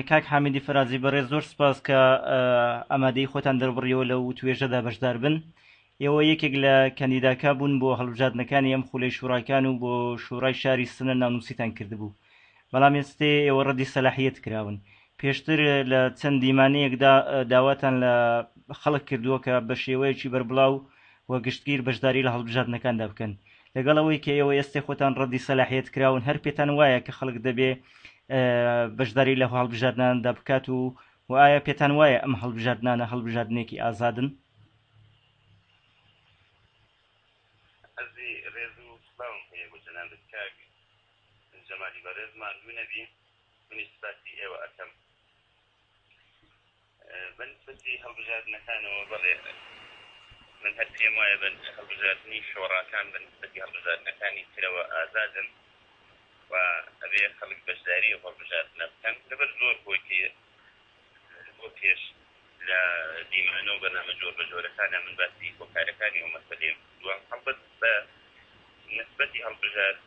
کاک حامیدی فەرازی بەڕێز زۆر سپاس کە ئەمادەی خۆتان دەربڕیەوە لە و توێژەدا بەشدار بن ئێوە یەکێک لە کەندیداکە بوون بۆ هەڵبژاردنەکانی ئەم خولەی شوڕاکان و بۆ شوڕای شاری سنە ناونووسیتان کردبوو بەڵام ئێستێ ئێوە ڕەدی سەلاحیت کراون پێشتر لە چەند دیمانەیەکدا داواتان لە خەڵک کردووە کە بە شێوەیەکی بەربڵاو و گشتگیر بەشداری لە هەڵبژاردنەکاندا بکەن لەگەڵ ئەوەی کە ئێوە ئێستێ خۆتان ڕەدی سەلاحیەت کراون هەر پێتان وایە کە خەڵک دەبێ بەشداری لە هەڵبژاردناندا بکات و و ئایا پێتان وایە ئەم هەڵبژاردنانە هەڵبژاردنێکی ئازادن ئەزی ڕێز و سلاوم هەیە بۆ جەنابت کاک جەمالی بەڕێز ماندوو نەبی منی سپاسی ئێوە ئەکەم بە نیسبەتی هەڵبژاردنەکانەوە بەڵێ من هەر پێم وایە بە هەڵبژاردنی شۆڕاکان بە نیسبەتی هەڵبژاردنەکانی ترەوە ئازادن و ئەبێ خەڵک بەشداری هەڵبژاردنە بکەن لەبەر زۆر هۆیتی بۆ پێش لە دیمانە و بەنامە جۆر بە جۆرەکانە من باسی هۆکارەکانی و مەسەلێ دوام هەڵبەت بە نسبەتی هەڵبژار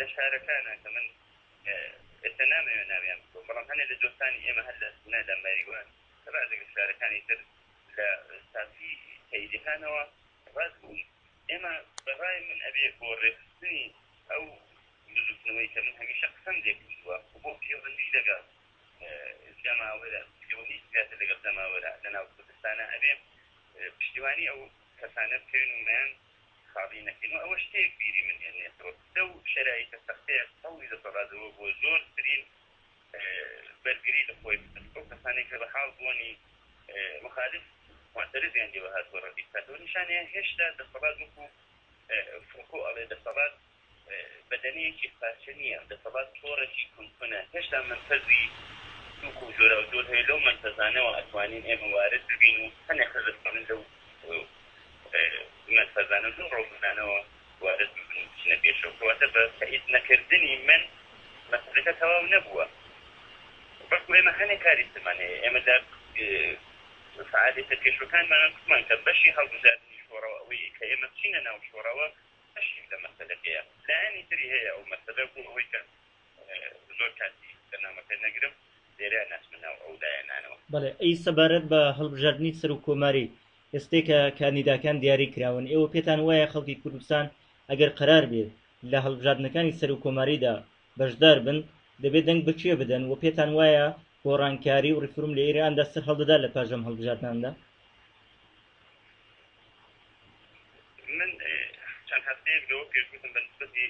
لە شارەکانە کە من ئێستا نامەوێت ناویان ببرم، بەڵام هەنێ لە دۆستانی ئێمە هەر لە سنە، لە مەریوان، لە بەعزێک لە شارەکانی تر لە ساتی تەیلیهانەوە ڕەت بوون. ئێمە بە ڕای من ئەبێ بۆ ڕێکخستنی ئەو بزووتنەوەی کە من هەمیشە قسەم لێ کردووە و بۆ پێوەندی لەگەڵ جەماوەرە، پێوەندیی زیاتر لەگەڵ جەماوەرە لە ناو کوردستانە، ئەبێ پشتیوانی ئەو کەسانە بکەوین و مەیان خاڵی نەکەین و ئەوە شتێک بیری من هێنێتەوە لەو شەرایتە سەختەیە هەوڵی دەسەڵات ئەوە بووە زۆرترین بەرگری لە خۆی بکات ئەو کەسانەی کە بە حاڵ بوونی مخالف معترضیان لێوە هاتووە ڕەدی بکاتەوە نیشانەیە هێشتا دەسەڵات وەکو فوکۆ ئەڵێ دەسەڵات بەدەنی یەکێک پارچە نییە، دەسەڵات تۆڕێکی کون کونە، هێشتا مەنفەزی سووک و جۆراوجۆر هەیە، لەو مەنفەزانەوە ئەتوانین ئێمە وارد ببین و هەنێ کەس ئەتوانن لەو مەنفەزانە و لەو ڕۆڵمەنانەوە وارد ببن و بچنە پێشەوە، کەواتە بە تەئید نەکردنی من مەسەلەکە تەواو نەبووە، بەڵکو ئێمە هەنێ کاری ترمان هەیە، ئێمە لە فەئالیەتە پێشوەکانمانە گوتمان کە بەشی هەڵبژاردنی شۆڕەوە ئەوەیە کە ئێمە بچینە ناو شۆڕەوە، بەشێک لە مەسەلەکەیە لایەنی تری هەیە ئەو مەسەلە بۆ ئەوەی کە زۆر کاتی بەرنامەکە نەگرم لێرە نەچمە ناو ئەو لایەنانەوە. بەڵێ ئەی سەبارەت بە هەڵبژاردنی سەرۆک کۆماری ئێستەی کە کاندیداکان دیاری کراون ئێوە پێتان وایە خەڵکی کوردستان ئەگەر قەرار بێ لە هەڵبژاردنەکانی سەرۆک کۆماریدا بەشدار بن دەبێ دەنگ بە کێ بدەن و پێتان وایە گۆڕانکاری و ڕیفروم لە ئێراندا سەرهەڵدەدا لە پاش ئەم هەڵبژاردناندا؟ من چەند هەفتەیەک لەوە پێش گوتم بە نسبەتی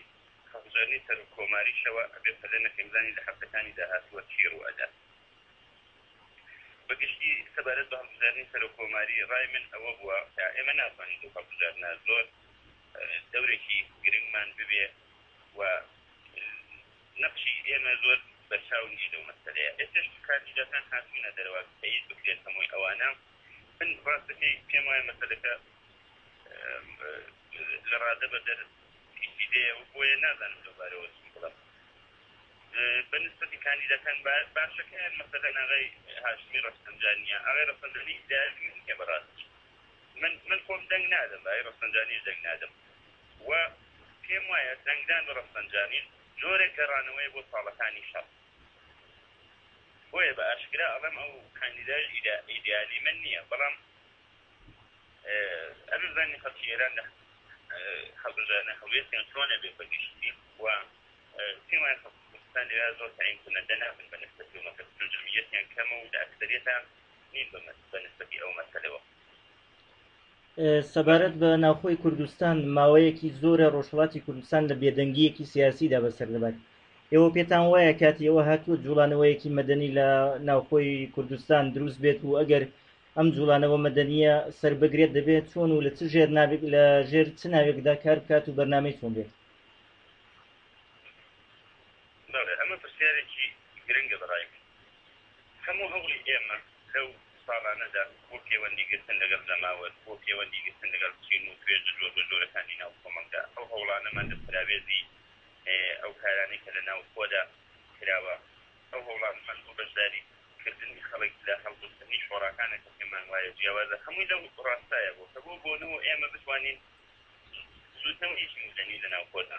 هەڵبژاردنی سەرۆک کۆماریشەوە ئەبێ پەلە نەکەین بزانین لە هەفتەکانی داهاتووە چی ڕوو ئەدات. بەگشتی سەبارەت بە هەڵبژاردنی سەرۆک کۆماری ڕای من ئەوە بووە کە ئێمە ناتوانین لەو هەڵبژاردنە زۆر دەورێکی گرنگمان ببێ و نەخشی ئێمە زۆر بەرچاو نییە لەو مەسەلەیە ئێستش کاندیدەکان هاتوونە دەرەوە تەیید بکرێت هەمووی ئەوانە من ڕاستەکەی پێم وایە مەسەلەکە لە ڕادە بە دەر ئیشی دێ و بۆیە نازانم لەو بارەوە چی بڵێم بە نسبەتی کاندیدەکان باشەکەیان مەسەلە ناغی هاشمی ڕەفسەنجانیە ئەغی ڕەفسەنجانی داوی نییە بەڕاستی من من خۆم دەنگ نادەم بای ڕەفسەنجانیش دەنگ نادەم و پێم وایە دەنگدان بە ڕەفسەنجانی جۆرێک گەڕانەوەی بۆ ساڵەکانی شەڕ بۆیە بە ئاشکرا ئەڵێم ئەو کاندیداش ئیدیالی من نییە، بەڵام ئەبێ بزانین خەڵکی ئێران لە هەڵبژاردنە هەڵوێستیان چۆنە بێ بە گشتی و پێم وایە خەڵکی کوردستان لەوێ زۆر تەعین کونەدە نابن بە نسبەتی ئەو مەسەلە، چون جەمیعیەتیان کەمە و لە ئەکسەریەتا نین بە نسبەتی ئەو مەسەلەوە. سەبارەت بە ناوخۆی کوردستان ماوەیەکی زۆرە ڕۆژهڵاتی کوردستان لە بێدەنگیەکی سیاسیدا بەسەر دەبات ئێوە پێتان وایە کاتی ئەوە هاتووە جوڵانەوەیەکی مەدەنی لە ناوخۆی کوردستان دروست بێت و ئەگەر ئەم جوڵانەوە مەدەنیە سەر بگرێت دەبێت چۆن و لە چ ژێر ناوێک لە ژێر چ ناوێکدا کار بکات و بەرنمەی چۆن بێت ئەمە پرسیارێکی گرنگە بەڕای هەموو هەوڵی ئێمە لەو ساڵانەدا بۆ پێوەندی گرتن لەگەڵ جەماوەر، بۆ پێوەندی گرتن لەگەڵ چین و توێژە جۆربەجۆرەکانی ناو کۆمەڵگا، ئەو هەوڵانەمان لە پەراوێزی ئەو کارانەی کە لە ناوخۆدا کراوە، ئەو هەوڵانەمان بۆ بەشداری کردنی خەڵک لە هەڵبژاردنی شۆڕاکانە کە پێمان وایە جیاوازە، هەمووی لەو ڕاستایە بووە کە بۆ بۆنەوە ئێمە بتوانین بزووتنەوەیەکی مەدەنی لە ناوخۆدا.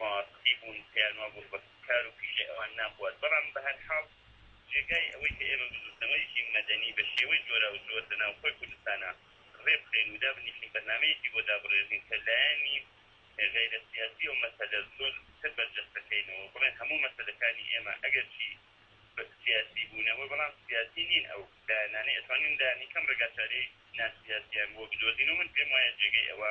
ڕاستی بوون پێیان وابوو ڕەبە کار و پیشەی ئەوان ناخوات بەڵام بەهەرحاڵ جێگای ئەوەی کە ئێمە بزووتنەوەیەکی مەدەنی بە شێوەی جۆراوجۆر لە ناوخۆی کوردستانا ڕێبخەین و دابنیشین بەرنامەیەکی بۆ دابڕێژین کە لایەنی غەیرە سیاسی ئەو مەسەلە زۆر تر بەرجەستە کەینەوە و بڵێن هەموو مەسەلەکانی ئێمە ئەگەرچی سیاسی بوونەوە بەڵام سیاسی نین ئەو لایەنانەی ئەتوانین لایەنی کەم ڕێگاچارەی ناسیاسیان بۆ بدۆزین و من پێم وایە جێگەی ئەوە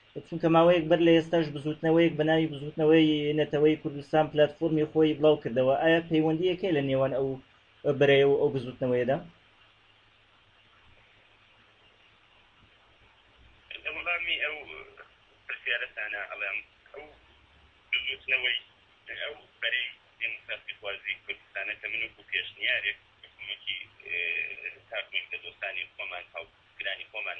چونکە ماوەیەک بەر لە ئێستاش بزووتنەوەیەک بە ناوی بزووتنەوەی نەتەوەیی کوردستان پلاتفۆرمی خۆی بڵاو کردەوە، ئایا پەیوەندییەک هەیە لە نێوان ئەو بەرەیە و ئەو بزووتنەوەیەدا؟ لە وەڵامی ئەو پرسیارەتانا ئەڵێم، ئەو بزووتنەوەی ئەو بەرەی دێموکراسیخوازی کوردستانە کە من وەکوو پێشنیارێک بە کۆمەکی تاک مەکتەدۆستانی خۆمان، هاوپیشەکرانی خۆمان،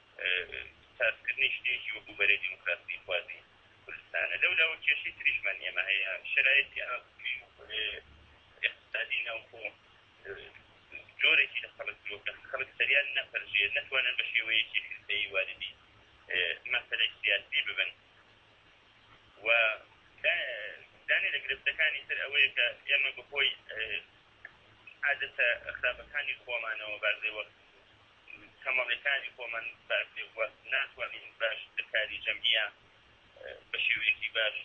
سازکردنی شتێکی وەکو بەرەی دیموکراسی خوازی کوردستانە لەو لاوە کێشی تریشمان ئێمە هەیە شرایەتی ئاقتصادی ناوخۆ جۆرێکی لە خەڵک لۆکە خەڵک سەریان نەپەرژێ نەتوانن بە شێوەیەکی حزبەی واردی مەسەلە سیاسی ببن و دانی لە گرفتەکانی تر ئەوەیە کە ئێمە بەهۆی عادەتە خراپەکانی خۆمانەوە بازێوە کەمەڵیکانی خۆمان باش بێ و ناتوانین باش لە کاری جەمعیە بە شێوەیەکی باش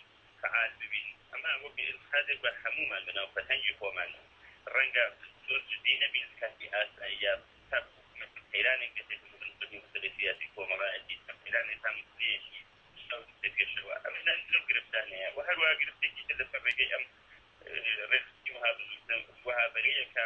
فەعال ببین، ئەمە وەک ئیلحادێک بە هەموومان لە ناو فەرهەنگی خۆمان و ڕەنگە زۆر جدی نەبین لە کاتی ئاساییە تاکو قەیرانێک دێتە پێش بن بە مەسەلەی سیاسی کۆمەڵایەتی چەند قەیرانێک تا مەسەلەیەکی شاو دێتە پێشەوە ئەمە لای زۆر گرفتانەیە و هەروەها گرفتێکی تر لەسەر ڕێگەی ئەم ڕێکخستنی وەها بزووتنە وەها بەرەیەکە.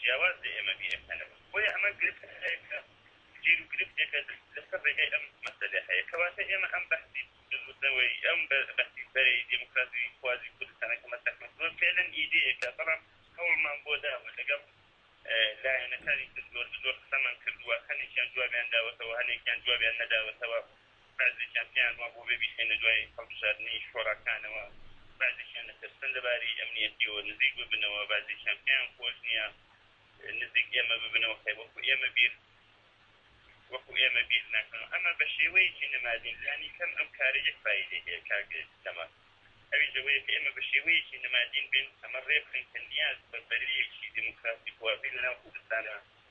جیاواز لە ئێمە بیرەکانەوە، بۆیە ئەمە گرفتە هەیەکە جێر و گرفتێکە لەسەر ڕێگای ئەم مەسەلە هەیە، کەواتە ئێمە ئەم بەحسی بزووتنەوەیی، ئەم بەحسی بەرەی دێموکراسیخوازی کوردستانە کە مەترەح من کردووە فێعلەن ئیدێیەکە، بەڵام هەوڵمان بۆ داوە لەگەڵ لایەنەکانی تر زۆر بە زۆر قسەمان کردووە، هەنێکیان جوابیان داوەتەوە، هەنێکیان جوابیان نەداوەتەوە، بەعزێکیان پێیان وا بووە بێ بیخەینە دوای هەڵبژاردنی شۆراکانەوە، بەعزێکیان ئەترسن لەباری ئەمنیەتیەوە نزیک ببنەوە، بەعزێکیان پێیان خۆش نییە نزیک ئێمە ببنەوە خێر وەکو ئێمە بیر وەکو ئێمە بیر ناکەنەوە، ئەمە بە شێوەیەکی نمادین لانی کەم ئەم کارە یەک فایدەی هەیە کاک سەما ئەویش ئەوەیە کە ئێمە بە شێوەیەکی نمادین بێن ئەمە ڕێ بخەین کە نیاز بە بەرەیەکی دیموکراسی خواز لەناو کوردستانا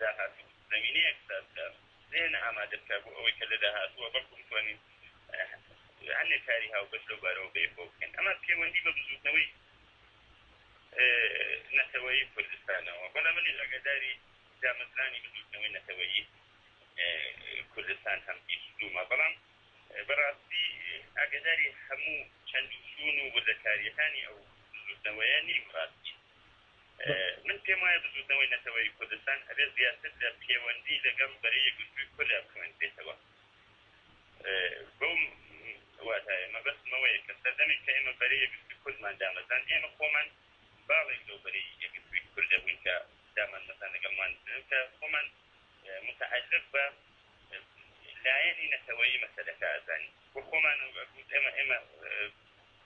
داهاتوو زەمینەیەک ساز بکە، زێهنە ئامادە بکە بۆ ئەوەی کە لە داهاتووە بەڵکو بتوانین هەندێک کاری هاوبەش لەو بارەوە بەیەکەوە بکەین. ئەمە پێوەندی بە بزووتنەوەی نەتەوەیی کوردستانەوە، بەڵێ منیش ئاگاداری دامەزرانی بزووتنەوەی نەتەوەیی کوردستان هەم، بیست و دوو مە، بەڵام بە ڕاستی ئاگاداری هەموو چەند و چوون و وردەکارییەکانی ئەو بزووتنەوەیە نیم، ڕاستی. من پێم وایە بزوتنەوەی نەتەوەیی کوردستان ئەبێت زیاتر لە پێوەندی لەگەڵ بەرەی یەکگرتووی کوردا بخوێنرێتەوە بەو واتایە مەبەستمەوەیە کە سەردەمێک کە ئێمە بەرەی یەکگرتووی کوردمان دامەزان ئێمە خۆمان باڵێک لەو بەرەی یەکگرتووی کورد دەبووین کە دامان مەزان لەگەڵمان کە خۆمان متعلق بە لایەنی نەتەوەیی مەسەلەکە ئەزانین و خۆمان ئێمە ئێمە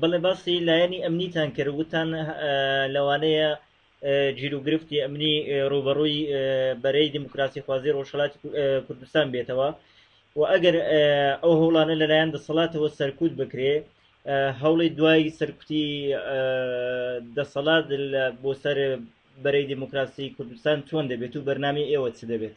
بەڵێ باسی لایەنی ئەمنیتان کرد وتان لەوانەیە جیروگرفتی ئەمنی ڕوبەڕووی بەرەی دیموکراسی خوازی ڕۆژهڵاتی کوردستان بێتەوە و ئەگەر ئەو هەوڵانە لەلایەن دەسەڵاتەوە سەرکوت بکرێ هەوڵی دوای سەرکوتی دەسەڵات بۆ سەر بەرەی دیموکراسی کوردستان چۆن دەبێت و بەرنامی ئێوە چ دەبێت؟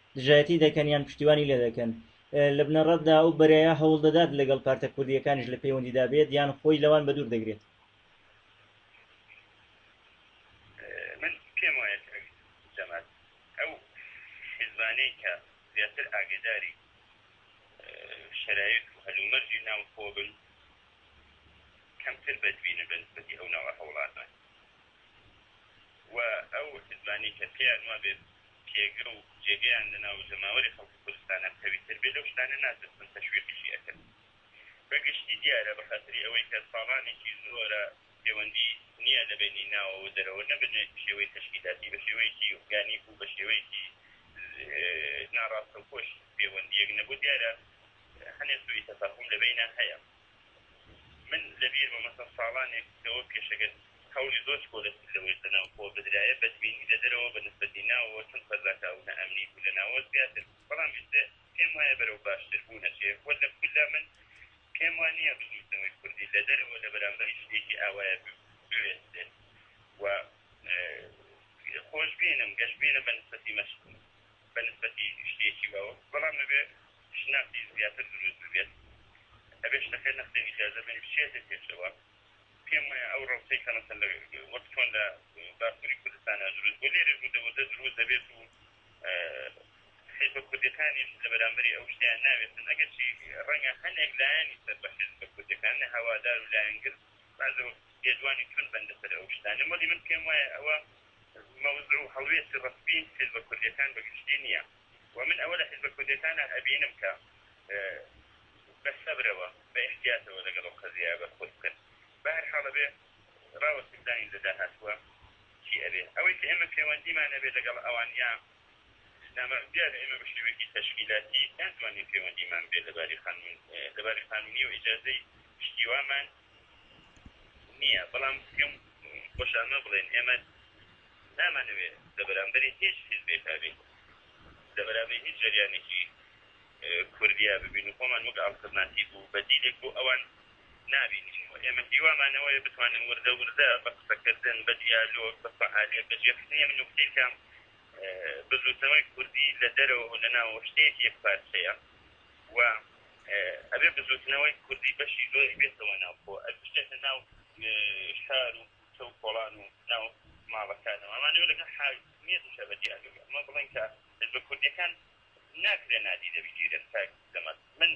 دژایەتی دەکەن یان پشتیوانی لێ دەکەن لە بنەڕەتدا ئەو بەرەیە هەوڵ دەدات لەگەڵ پارتە کوردیەکانیش لە پەیوەندیدا بێت یان خۆی لەوان بە دوور دەگرێت من پێم وایە جەمال ئەو حزبانەی کە زیاتر ئاگداری شرایط و هەلومەرجی ناو خۆ بن کەمتر بەدبینە بە نسبەتی ئەو ناوە هەوڵاتان و ئەو حزبانی کە پێیان وابێت پێگە و جێگەیان لە ناو جەماوەری خەڵکی کورستانا قەویتر بێ لەو شتانە ناترسن تەشویقیشی ئەکەن بە گشتی دیارە بە خاتری ئەوەی کە ساڵانێکی زۆرە پێوەندی نیە لە بەینی ناوە و دەرەوە نە بە شێوەی تەشکیلاتی بە شێوەیەکی ئورگانیک و بە شێوەیەکی ناڕاستەوخۆش پێوەندیەک نەبوو دیارە هەنێ سوئی تەفاهوم لە بەینا هەیە. من لەبیرمە مەسەڵەن ساڵانێک لەوە پێش ئەگەر هەوڵی زۆر چکۆلەتی لەوەی لەناوخۆوە بدرایە بەدبینی لەدەرەوە بەنسبەتی ناوەوە چون فەزاکە ئەو نائەمنی بوو لەناوە زیاتر بوو بەڵام ئیستا پێم وایە بەرەو باشتر بوون ئەچێ وە لە کوردا من پێم وا نییە بزووتنەوەی کوردی لەدەرەوە لەبەرامبەری شتێکی ئاوایە بوێستێت وە خۆشبینم گەشبینم بەنسبەتی مەش بەنسبەتی شتێکی وەو بەڵام ئەبێ شناسی زیاتر دروست ببێت ئەبێت شتەکە نەختێنی جادە بێت بچێتە پێشەوە پێم وایە ئەو ڕەوتەی کە مەسەن لە وەک چۆن لە باکووری کوردستانە دروست بۆ لێرێ بوودە وەزە دروست دەبێت و حیزبە کوردەکانیش لە بەرامبەری ئەو شتیان ناوێتن ئەگەرچی ڕەنگە هەنێک لایەنی سەر بە حیزبە کوردەکان نە هەوادار و لایەنگر بازە لێدوانی چون بەندە سەر ئەو شتانە مەلی من پێم وایە ئەوە مەوزع و هەڵوێستی ڕەسمی حیزبە کوردەکان بەگشتی نییە وە من ئەوە لە حیزبە کوردیەکانا ئەبینم کە بە سەبرەوە بە ئیحتیاتەوە لەگەڵ ئەو قەزیایە بەرخۆد بکەن بە هەر حاڵ ئەبێ ڕاوەستین بزانین لە داهاتووە چی ئەبێ ئەوەی کە ئێمە پێوەندیمان ئەبێ لەگەڵ ئەوان یا نامەرد دیارە ئێمە بە شێوەیەکی تەشکیلاتی ناتوانین پێوەندیمان بێ لەباری قانون لەباری قانونی و ئیجازەی شتی وامان نییە بەڵام پێم خۆش ئەمە بڵێن ئێمە نامانەوێ لە بەرامبەری هیچ حزبێکا بێت لە بەرامبەر هیچ جریانێکی کوردیا ببین و خۆمان وەک ئاڵترناتیب و بەدیلێک بۆ ئەوان نابینین و ئێمە هیوامانەوەی بتوانین وردە وردە بە قسەکردن بە دیالۆگ بە فعالیت بە جێخستنی من نوکتێکم بزوتنەوەی کوردی لە دەرەوە لە ناوەشتێک یەک پارچەیە و ئەبێ بزووتنەوەی کوردی بەشی زۆری بێتەوە ناوخۆ، بچێتە ناو شار و کوچە و کۆڵان و ناو ماڵەکانەوە، ئەمانەوێ لەگەڵ حاکمیەتیشا بە دیاردە بێ، ئەمە بڵێن کە حیزبە کوردیەکان ناکرێ نادیدە بگیرێن، کاک سەمەد من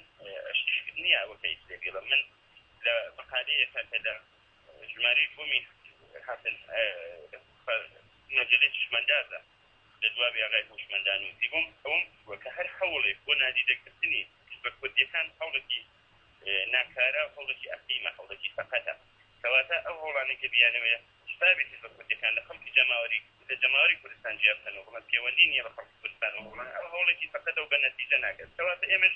شتێک نیە ئەوە کە ئیتر بیڵێم، من لە مەقالەیەکا کە لە ژمارەی دووەمی هاتن مەجەلەی چشمەندازە، لە دواوی ئاغای هوشمەندان نووسی بۆم ئەوەم گوتووە کە هەر هەوڵێک بۆ نادیدە گرتنی حیزبە کوردیەکان هەوڵێکی ناکارە و هەوڵێکی ئەقلیمە هەوڵێکی سەقەتە کەواتە ئەو هەوڵانەی کە بیانەوێ شتابی حیزبە کوردیەکان لە خەڵکی جەماوەری لە جەماوەری کوردستان جیا بکەن و بڵێن پێوەندی نیە بە خەڵکی کوردستان و هەوڵان ئەوە هەوڵێکی سەقەتە و بە نەتیجە ناگات کەواتە ئێمەش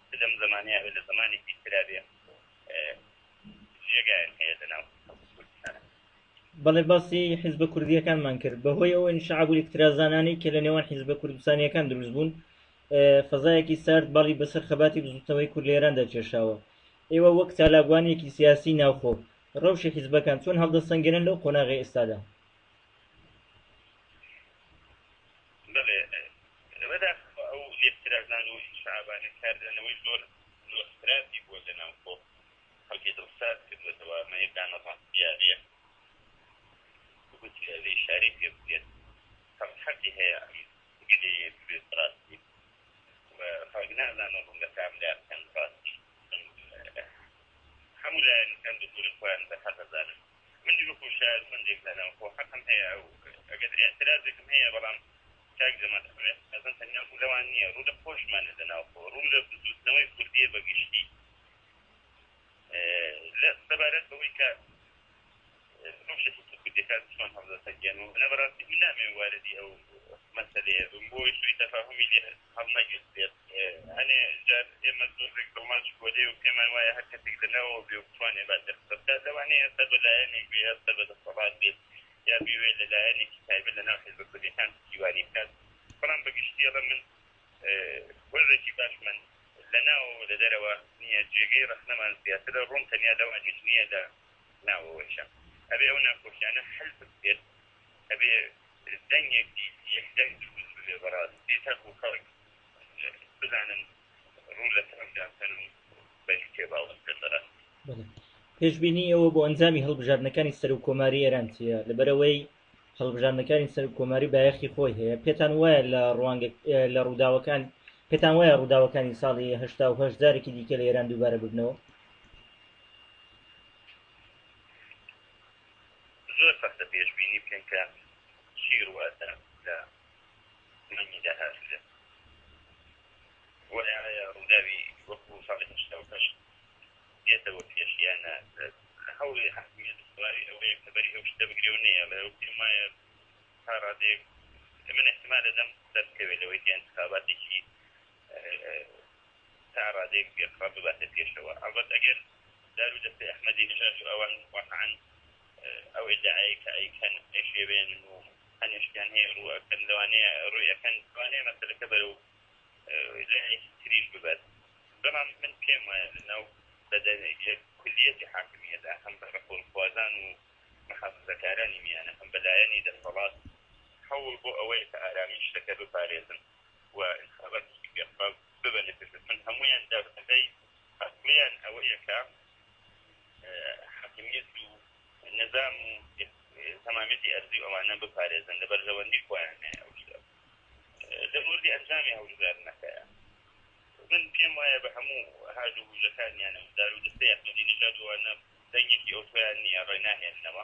لەم زمانە یاخود لە زمانێکی ترا بێ جێگایان هەیە لەناو کوردستانە بەڵێ باسی حیزبە کوردیەکانمان کرد بەهۆی ئەو انشعاب و اکترازانانەی کە لە نێوان حیزبە کوردستانیەکان دروست بوون فەزایەکی سارد باڵی بەسەر خەباتی بزوتنەوەی کورد لە ئێراندا کێشاوە ئێوە وەک چالاکوانێکی سیاسی ناوخۆ ڕەوشی حیزبەکان چۆن هەڵدەسەنگێنن لەو قۆناغی ئێستادا بەڵێ بەداخەوە ئەو لێکترازان و ئینشعابانە کاردانەوەی زۆر زۆر خراپی بۆ لەناوخۆ خەڵکی دڵ سارد کردوەتەوە ئەمە یەک دانە ڕاستیارەیە گوتی ئەبێ ئیشارەی پێ بکرێت کەس حەقی هەیە ئەم گلەیە ببێت ڕاستی و خەڵک نازانن ڕوون لە کام لا بکەن ڕاستی هەموو لایەنەکان بزوورن خۆیان بەرهەق ئەزانن من وەکو شارسەنجێک داناوە خۆ حەقم هەیە ئەو ئەگەر ئێعترازێکم هەیە بەڵام کاک جەمال ئەمەوێت ئەزان تەنیا ڕوو لەوان نییە ڕوو لە خۆشمانە لە ناوخۆ ڕوو لە بزووتنەوەی کوردیە بە گشتی لە سەبارەت بەوەی کە کوردەکان چۆن هەڵدەسەنگێن و نە بەڕاستی من نامێ واردی ئەو مەسەلەیە بم بۆی سوی تەفاهمی لێ هەست هەڵنەگرت بێت. هەنێ جار ئێمە زۆرێک دڵماچ گۆرێ و پێمان وایە هەر کەسێک لە ناوەوە بێ و بتوانێ باسێ قسە بکات، لەوانەیە سەر بە لایەنێک بێ، یا سەر بە دەسەڵات بێت، یا بیوێ لە لایەنێکی تایبەت لە ناو حیزبە کوردیەکان پشتیوانی بکات، بەڵام بە گشتی ئەڵێم من وەرزێکی باشمان لە ناوەوە و لە دەرەوە نییە، جێگەی ڕەخنەمان زیاترە، ڕووم تەنیا لەوانیش نییە لە ناوەوەیشە ئەبێ ئەو ناکۆکیانە حل بکرێت. ئەبێ دەنگێک بیت یەک دەنگ دروست ببێ بەڕاستی تاکو خەڵک بزانن ڕوو لە ترەمپ داکەن و بەری تێ باوەش بێت بەڕاستی بەڵێ پێشبینی ئێوە بۆ ئەنجامی هەڵبژاردنەکانی سەر و کۆماری ئێران چییە لەبەرەوەی هەڵبژاردنەکانی سەر و کۆماری بایەخی خۆی هەیە پێتان وایە لە ڕوانگە لە ڕووداوەکان پێتان وایە ڕووداوەکانی ساڵی هەشتا و هەشت جارێکی دیکە لە ئێران دووبارە ببنەوە زۆر سەختە پێشبینی بکەین کە چی ڕووئەدا لە مانگی داهاتوودا و ئایا ڕووداوی وەکو ساڵی هەشتا و هەشت دێتەوە پێش یان نا هەوڵی حکومەت دوای ئەوەیە کە بەری ئەو شتە بگرێ و نەیەڵێ و پێم وایە تا ڕادەیەک من احتمال دەم دەستکەوێت لەوەی کە انتخاباتێکی تا ڕادەیەک پێخڕە بباتە پێشەوە ئەڵبەت ئەگەر دار و دەستەی ئەحمەدی نژاد و ئەوان واقعا ئەو ئیدعایە کە ئەیکەن ئەشێوێن و هەنێشتیان هەیە ڕوو ئەکەن لەوانەیە ڕووی ئەکەن لەوانەیە مەسەلەکە بەرەو لایەکی تریش ببات بەڵام من پێم وایە لەناو بەدەنێک کولیەتی حاکمیەدا هەم بە ڕەپۆرخوازان و محافزەکارانی میانە هەم بەلایەنی دەسەڵات هەوڵ بۆ ئەوەیە کە ئارامی شتەکە بپارێزن و انتخاباتی گەپە ببەنە پێش دەست من هەمویان دابەزەی ئەسلیان ئەوەیە کە حاکمیت و نظام و تەمامیتی ئەرزی ئەوانە بپارێزن لە بەرژەوەندی خۆیان هەیە ئەو شتە لە موردی ئەنجامی هەڵبژاردنەکەیە من پێم وایە بە هەموو هاج و هوژەکانیانە و دار و دەستەی ئەحمەدی نژاد وانە دەنگێکی ئەوتۆیان نییە ڕێ ناهێننەوە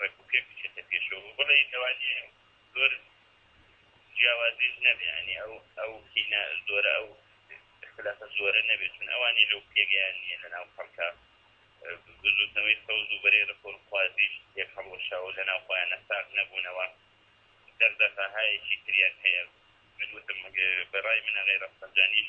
ڕێک و پێک بچێتە پێشەوە بڵێ لەوانی زۆر جیاوازیش نەبێ ینی ئەو ئەو کینە زۆرە ئەو اختلافە زۆرە نەبێت چون ئەوانی لەو پێگەیان نیە لە ناو خەڵکە بزوتنەوەی سەوز و بەرەی ڕفۆر خوازیش یەک هەڵوەشاو لە ناو خۆیان نەساق نەبوونەوە دەردەفاهایەکی تریان هەیە من وتم بەڕای منە غیرە سەنجانیش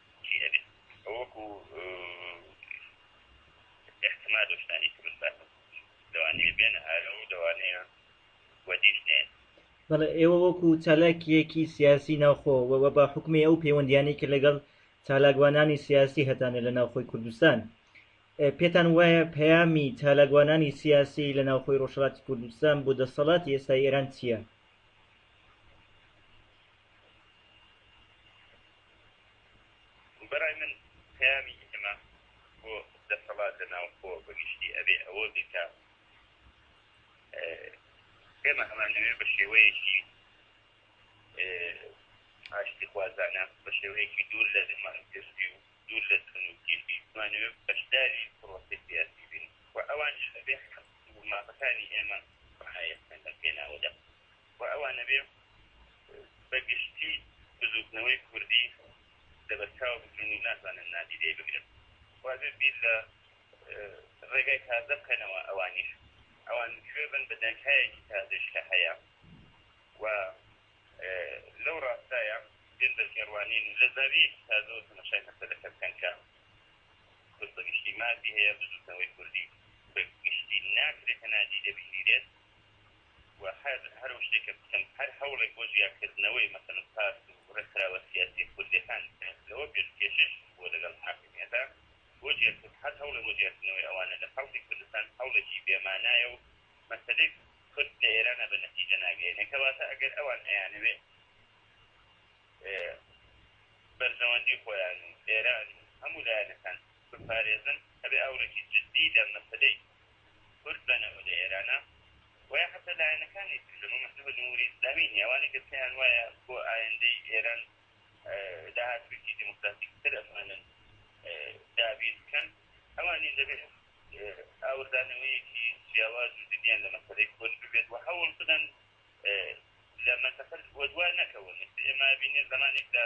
بەڵێ ئێوە وەکو چالاکیەکی سیاسی ناوخۆ وە بە حکومی ئەو پەیوەندیانەی کە لەگەڵ چالاکوانانی سیاسی هەتانە لە ناوخۆی کوردستان پێتان وایە پەیامی چالاکوانانی سیاسی لە ناوخۆی ڕۆژهڵاتی کوردستان بۆ دەسەڵاتی ئێستای ئێران چییە؟ بەرای من پەیامی ئێمە بۆ دەسەڵات لە ناوخۆ بەگشتی ئەبێ ئەوە بێکە ئێمە هەمانەوێ بە شێوەیەکی ئاشتی خوازانە بە شێوەیەکی دوور لە زمانکردی و دوور لە تونوکیشی زمانەوێ بەشداری پرۆسی سیاسی بین و ئەوان شەبێ مافەکانی ئێمە ڕایەکەن لە پێناوەدا و ئەوا نەبێ بە گشتی بزووتنەوەی کوردی لەبەرچاو بگرن و ناتوانن نادیدەی بگرن وابێ بیر لە ڕێگای تازە بکەنەوە ئەوانیش ئەوان کوێ بن بە دەنکایەکی تازەش کە هەیە و لەو ڕاستایە بێن بە تێڕوانین و لە زاویەکی تازەوە تەمەشای مەسەلەکە بکەن کە کورد بە گشتی مافی هەیە بزووتنەوەی کوردی بە گشتی ناکرێت کە نادیدە بگیرێت و هەر هەر ئەو شتێکە بکەن، هەر هەوڵێک بۆ جیاکردنەوەی مەسەلەن پارت و ڕێکخراوە سیاسییە کوردییەکان بکەن، لەوە پێش کێشەیش بووە لەگەڵ حاکمییەتا بۆ جیاکردن، هەر هەوڵێک بۆ جیاکردنەوەی ئەوانە لە خەڵکی کوردستان هەوڵێکی بێ مانایە و مەسەلەی کورد لە ئێرانا بە نەتیجە ناگەیەنێ، کەواتە ئەگەر ئەوان ئەیانەوێ بەرژەوەندی خۆیان و ئێران و هەموو لایەنەکان بپارێزن، ئەبێ ئاوڕێکی جددی لە مەسەلەی کورد بە نەوە لە ئێرانە وە یا حەتە لایەنەکانی تر لە مەمەحزوو بە جمهوری ئیسلامی نیە ئەوانەی کە پێیان وایە بۆ ئایندەی ئێران داهاتوویەکی دیموکراتیک تر ئەتوانن دابین بکەن ئەوانیش دەبێت ئاوردانەوەیەکی جیاواز و جدیان لە مەسەلەی کورد ببێت وە هەوڵ بدەن لە مەنتەقە وەدوا نەکەون ئێمە بینێ زمانێکدا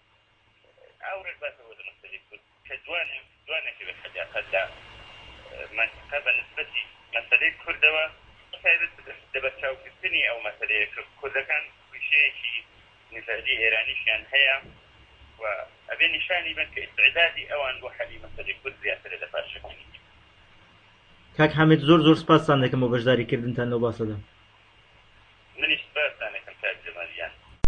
ئاورێک باسە بۆ دەمەسەری کورد کە دوان دوانێکی بە خەجافەت لە منطقە بە نسبەتی مەسەلەی کوردەوە تایبەت بدەن دەبە چاوکردنی ئەو مەسەلەیە کە کوردەکان کوشەیەکی نژادی ئێرانیشیان هەیە و ئەبێ نیشانی بن کە ئیسعدادی ئەوان بۆ حەلی مەسەلەی کورد زیاترە لە پارچەکانی کاک حامد زۆر زۆر سپاستان دەکەم بۆ بەشداریکردنتان لەو باسەدا منیش سپاستان دەکەم کاک جەمالیان